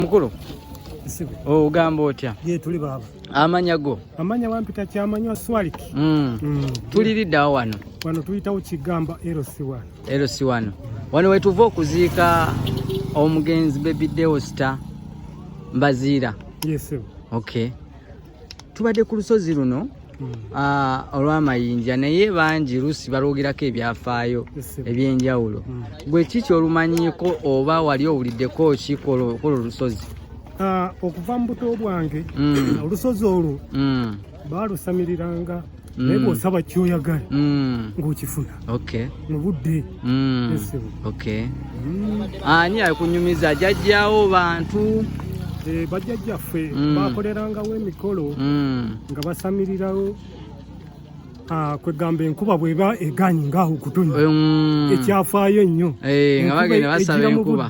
mukulu ogamba otya amanya go amanya wampita kyamanywa swalik mm. mm. tuliriddawo wano wano tuyitawo kigamba lc wano wano wetuva okuziika omugenzi bebideosta mbaziira yes, okay tubadde ku lusozi luno hmm. ah, olw'amayinja naye bangi lusi balwogerako ebyafaayo eby'enjawulo hmm. gwe kiki olumanyiiko oba wali owuliddeko ki kwolwo olusozi ah, okuva mu buto bwange hmm. olusozi olwo baalusamiriranga mm. naye bwosaba kyoyagala mm. ngaokifuna mu budde mm. ani akunyumiza jajjawo bantu eh, bajjajjaffe bakolerangawo emikolo nga basamirirawo Ah, kwegamba enkuba bweba eganyi ngaaho okutonya mm. ekyafaayo ennyo eh, nga bagenda basaba enkuba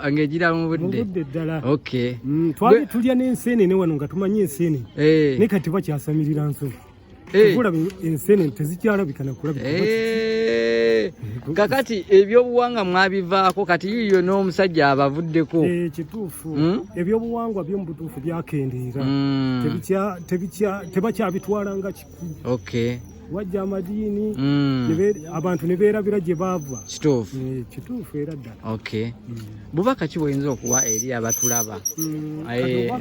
ngejira mu budde ddala mm, twali tulya n'enseenene wano nga tumanyi enseenene eh. naye kati bakyasamirira nsobi eh. olaba ensene tezikyalabika nakulabika eh. kakati ebyobuwanga mwabivaako kati yiyo n'omusajja abavuddeko kituufu hmm? ebyobuwangwa byomubutuufu byakendeera hmm. tebakyabitwala nga kika okay wajja amadiini mm. abantu ne beerabira gye baava kituufu eh, kituufu era ddala okay mm. bubaka ki bwoyinza okuwa eri abatulaba mm. eh,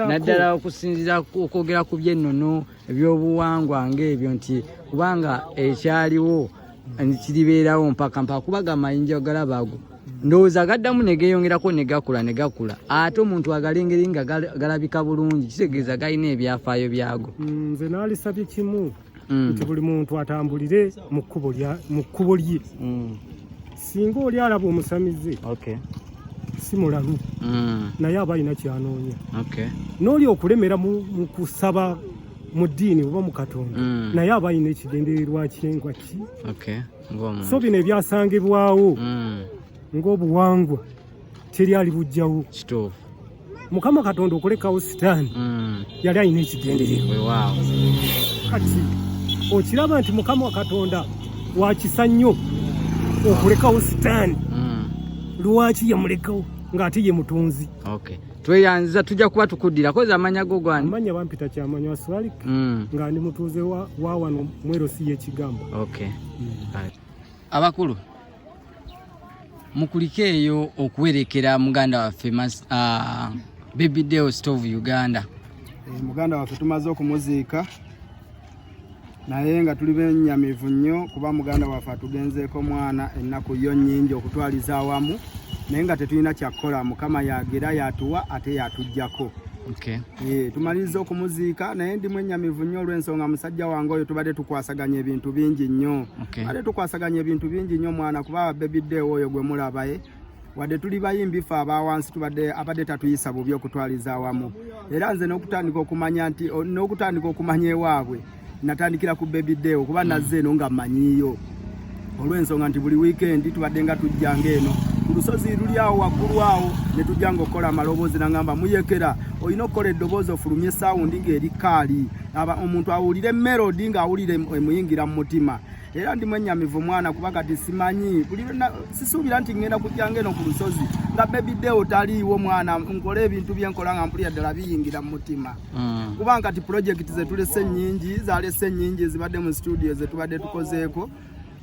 naddala okusinzira okwogera ku byennono ebyobuwangwa ngaebyo nti kubanga ekyaliwo kiribeerawo mpaka mpaka kuba gamayinja ogalaba ago ndowooza gaddamu ne geeyongerako ne gakula ne gakula ate omuntu agalengeri nga galabika bulungi kitegeeza galina ebyafaayo byago mm, nze naalisabye kimu mm. nti buli muntu atambulire mu kkubo lye mm. singa oli alaba omusamize si mulalu naye aba alina kyanoonya n'oli okulemera mu kusaba mu ddiini oba mu katonda mm. naye aba alina ekigendererwa kyengwa ki so bino ebyasangibwawo mm. ng'obuwangwa teri ali bujjawo mukama katonda okulekawo sitaani mm. yali alina ekigendererwa kati okiraba nti mukama katonda wakisa nnyo okulekawo sitaani lwaki yamulekawo ng'ate ye mutonzi tweyanziza tujja kuba tukuddira kozi amanya go gwani amanya bampita kyamanya waswalik mm. nga ndi mutuuze wa, wa wano mwero si yekigambo okay. mm. right. abakulu mukulike eyo okuwerekera muganda waffe uh, baby deo stove uganda e, muganda waffe tumaze okumuziika naye nga tuli benyamivu nnyo kuba muganda waffe atugenzeeko mwana ennaku yo nnyingi okutwaliza awamu naye nga tetulina kyakukola mukama yagira yatuwa ate yatujjako okay. e, tumaliriza okumuziika naye ndi mwenyamivu nnyo olw'ensonga musajja wange oyo tubadde tukwasaganya ebintu bingi nnyo okay. ate tukwasaganya ebintu bingi nnyo mwana kuba bebiddeewo oyo gwe mulabaye wadde tuli bayimbi ffe abawansi tubadde abadde tatuyisa bubi okutwaliza awamu era nze n'okutandika okumanya nti n'okutandika okumanya ewaabwe natandikira ku baby day okuba hmm. nazze eno nga manyiiyo olw'ensonga nti buli wiikendi tubadde nga tujja ngaeno ku lusozi luli awo waggulu awo ne tujja nga okukola amaloboozi nangamba muyekera olina okukola eddoboozi ofulumye esawundi ng'eri kaali omuntu awulire melodi ng'awulire emuyingira mu mutima era ndi mwenyamivu mwana kuba kati simanyi sisuubira nti ŋŋenda kujjanga eno ku lusozi nga bebi deo taliiwo mwana nkole ebintu bye nkola nga mpulira ddala biyingira mu mutima mm. kuba nkati pulojekiti ze tulese nnyingi zalese nnyingi ezibadde mu situdiyo ze tubadde tukozeeko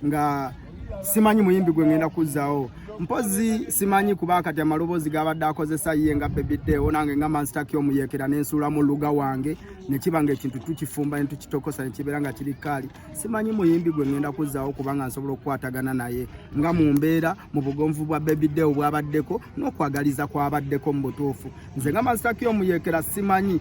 nga simanyi muyimbi gwe ŋŋenda kuzzaawo mpozi simanyi kuba kati amaloboozi gabadde akozesa ye nga bebi deo nange nga mansitaki omuyeekera nensuulamu luga wange nekiba nga ekintu tukifumba ne tukitokosa nekibeera nga kiri kaali simanyi muyimbi gwe ngenda kuzzaawo kubanga nsobola okukwatagana naye nga mu mbeera mu bugonvu bwa bebide obwabaddeko n'okwagaliza kwabaddeko mu butuufu nze nga masitaki omuyekera simanyi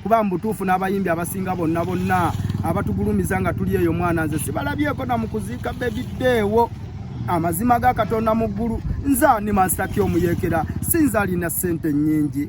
kuba mu butuufu n'abayimbi abasinga bonna bonna abatugulumiza nga tuli eyo mwana nze sibalabyeko na mu kuziika bebideewo amazima ga katonda mu ggulu nze ani masitaki omuyekera sinza alina ssente nnyingi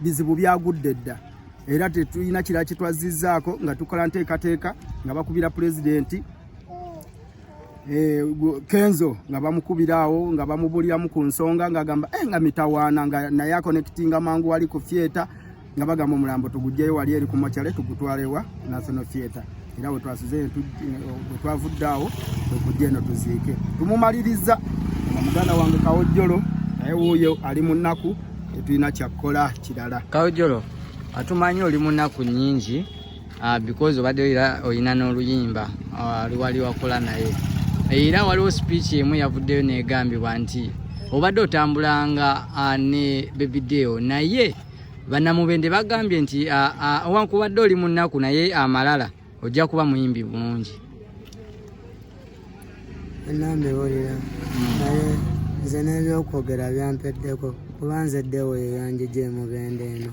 bizibu byagudde dda era tetulina kirala kyetwazizzaako nga tukola nteekateeka nga bakubira pulezidenti eh, kenzo nga bamukubiraawo nga bamubuliramu ku nsonga ngaagamba eh, nga mitawaana nga naye akonekitinga mangu wali ku fyeta nga bagamba omulambo tugugyeyo wali eri ku mokyale tugutwalewa national theatre era bwe twasuze bwe twavudde awo okujja eno tuziike tumumaliriza nga muganda wange kawojjolo naye wuuyo ali mu nnaku tetulina kyakkola kirala kawojjolo atumanyi oli mu nnaku nnyingi ah, because obadde era olina n'oluyimba ah, luwali wakola naye era waliwo speech emu yavuddeyo negambibwa nti obadde otambulanga ah, ne bebideo naye Bannamubende bagambye nti owankubadde oli mu nnaku naye amalala ojja kuba muyimbi bulungi. Bannambiwulira hmm. naye nze n'ebyokwogera byampeddeko kuba nze ddewo yeyanjija emubende eno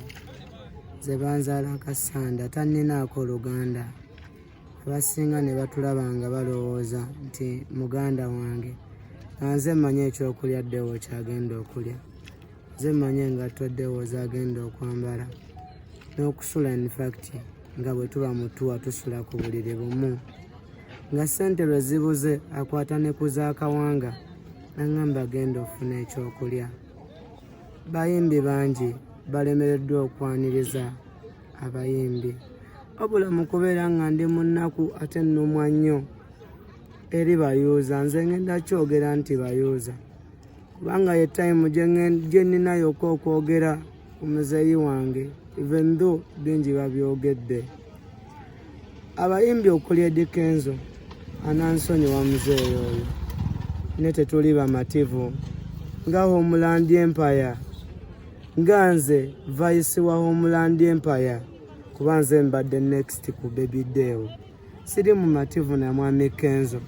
ze banzaala kasanda tanninaako oluganda. abasinga ne batulaba nga balowooza nti muganda wange anze mmanyi ekyokulya ddewo kyagenda okulya nze mmanyi engatto ddewo zagenda okwambala n'okusula infact nga bwe tuba mutuwa tusula ku buliri bumu nga ssente lwe zibuze akwata ne ku zaakawanga naŋŋamba genda ofuna ekyokulya bayimbi bangi balemereddwa okwaniriza abayimbi wabula mu kubeera nga ndi mu nnaku ate nnumwa nnyo eri bayuuza nze ngenda kyogera nti bayuuza kubanga ye tayimu gye ninayoka okwogera ku muzeeyi wange even though bingi babyogedde abayimbi okuli Eddy Kenzo anansonyiwa muzeeyi oyo ne tetuli bamativu nga Homeland Empire nga nze vayisi wa Homeland Empire kuba nze mbadde next ku Baby Deo siri mumativu na mwami Kenzo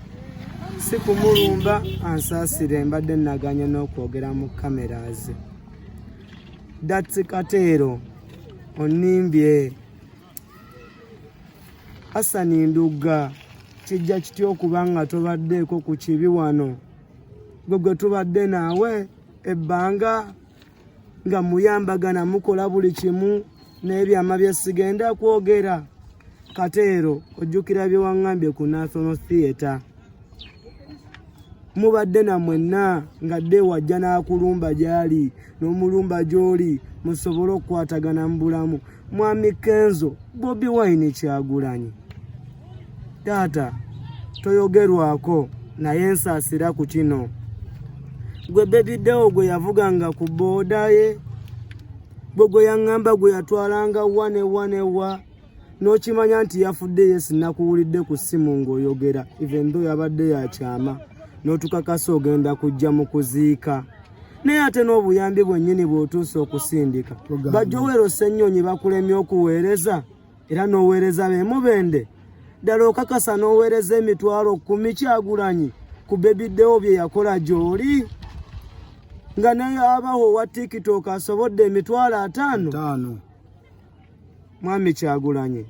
si kumulumba ansaasire mbadde naganye n'okwogera mu kamera ze datsi kateero onimbye Asani Ndugga kijja kitya okuba nga tobaddeeko ku kibi wano gwe gwe tubadde naawe ebbanga nga muyambagana mukola buli kimu n'ebyama bye sigenda kwogera kateero ojjukira bye waŋŋambye ku national theatre mubadde na mwenna ng'adde wajja n'akulumba gy'ali n'omulumba gy'oli musobole okukwatagana mu bulamu mwami kenzo bobi wine kyagulanyi taata toyogerwako naye nsaasira ku kino gwe bebidewo gwe yavuganga ku booda ye gwe gwe yaŋŋamba gwe yatwalanga wa ne wa ne wa n'okimanya nti yafudde ye sinakuwulidde ku ssimu ng'oyogera even though yabadde yakyama n'otukakasa ogenda kujja mu kuziika naye ate n'obuyambi bwennyini bw'otuusa okusindika bajjowero ssennyonyi bakulemye okuweereza era n'oweereza bemubende ddala okakasa n'oweereza emitwalo kumi kyagulanyi ku bebiddewo bye yakola gy'oli nga naye abaho owa tiktok asobodde emitwalo ataano Mwami Kyagulanyi,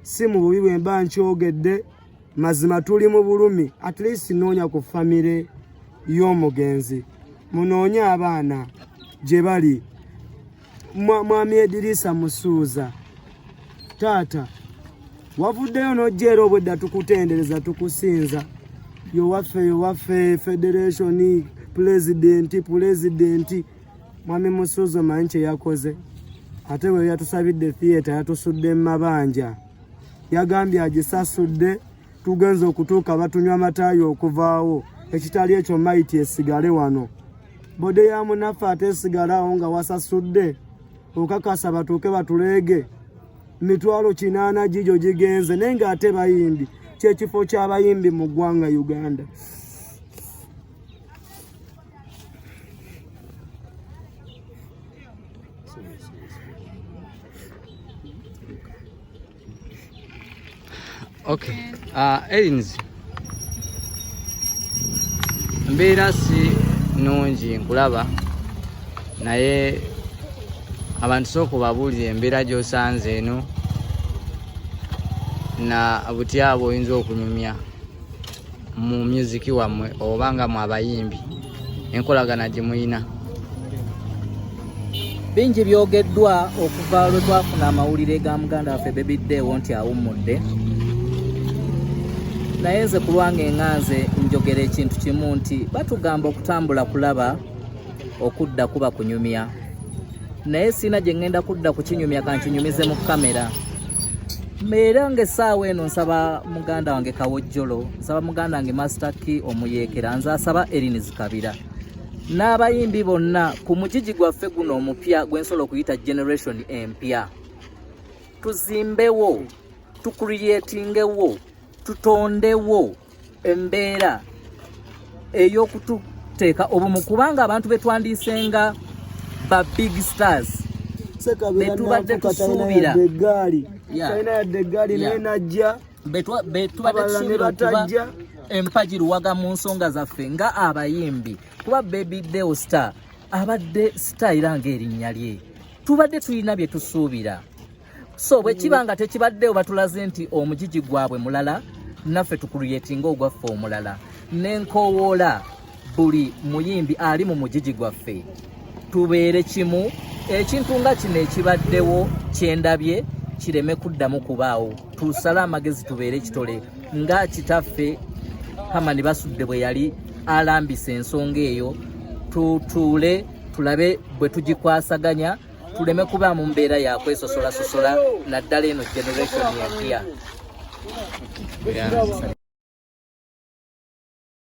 si mu bubi bwe mba nkyogedde, mazima tuli mu bulumi. At least noonya ku famire y'omugenzi, munoonye abaana gye bali. Mwami Edirisa Musuuza, taata wavuddeyo n'ojja era obwedda tukutendereza tukusinza yowaffe yowaffe federationi pulezidenti pulezidenti Mwami Musuuza omanyi kye yakoze ate bwe yatusabidde theatre yatusudde mu mabanja yagambye agisasudde tugenza okutuuka batunywa amataayi okuvaawo ekitali ekyo mayiti esigale wano bode ya munaffe ate esigalawo nga wasasudde okakasa batuuke batuleege mitwalo kinaana gigyo gigenze naye ng'ate bayimbi kyekifo ky'abayimbi mu ggwanga uganda Okay. Uh, Erinzi mbeera si nungi nkulaba naye abantu sooka obabuulira embeera gy'osanze eno na butya bwe oyinza okunyumya mu music wammwe oba nga mu abayimbi enkolagana gye muyina bingi byogeddwa okuva lwe twafuna amawulire ga muganda waffe bebiddeewo nti awummudde naye nze ku lwange nga nze njogera ekintu kimu nti batugamba okutambula kulaba okudda kuba kunyumya naye sirina gye ŋŋenda kudda kukinyumya kankinyumize mu kamera era ng'essaawa eno nsaba muganda wange kawojjolo nsaba muganda wange masita ki omuyeekera nze asaba erini zikabira n'abayimbi bonna ku mugigi gwaffe guno omupya gwe nsobola okuyita generation empya tuzimbewo tukuriyetingewo tutondewo embeera ey'okututeeka obumu kubanga abantu betwandiisenga ba big stars betubadde tusuubira egaali talina yadde egaali naye najja betubadde tusuubira okuba empagi luwaga mu nsonga zaffe nga abayimbi kuba baby deo star abadde star era ng'erinnya lye tubadde tulina bye tusuubira so bwe kiba nga tekibaddewo batulaze nti omugigi gwabwe mulala naffe tukulyetinga ogwaffe omulala nenkowoola buli muyimbi ali mu mugigi gwaffe tubeere kimu ekintu nga kino ekibaddewo kyendabye kireme kuddamu kubaawo tusale amagezi tubeere ekitole nga kitaffe hamani basudde bwe yali alambisa ensonga eyo tutuule tulabe bwe tugikwasaganya tu tuleme kuba mu mbeera ya kwesosolasosola naddala eno generation empya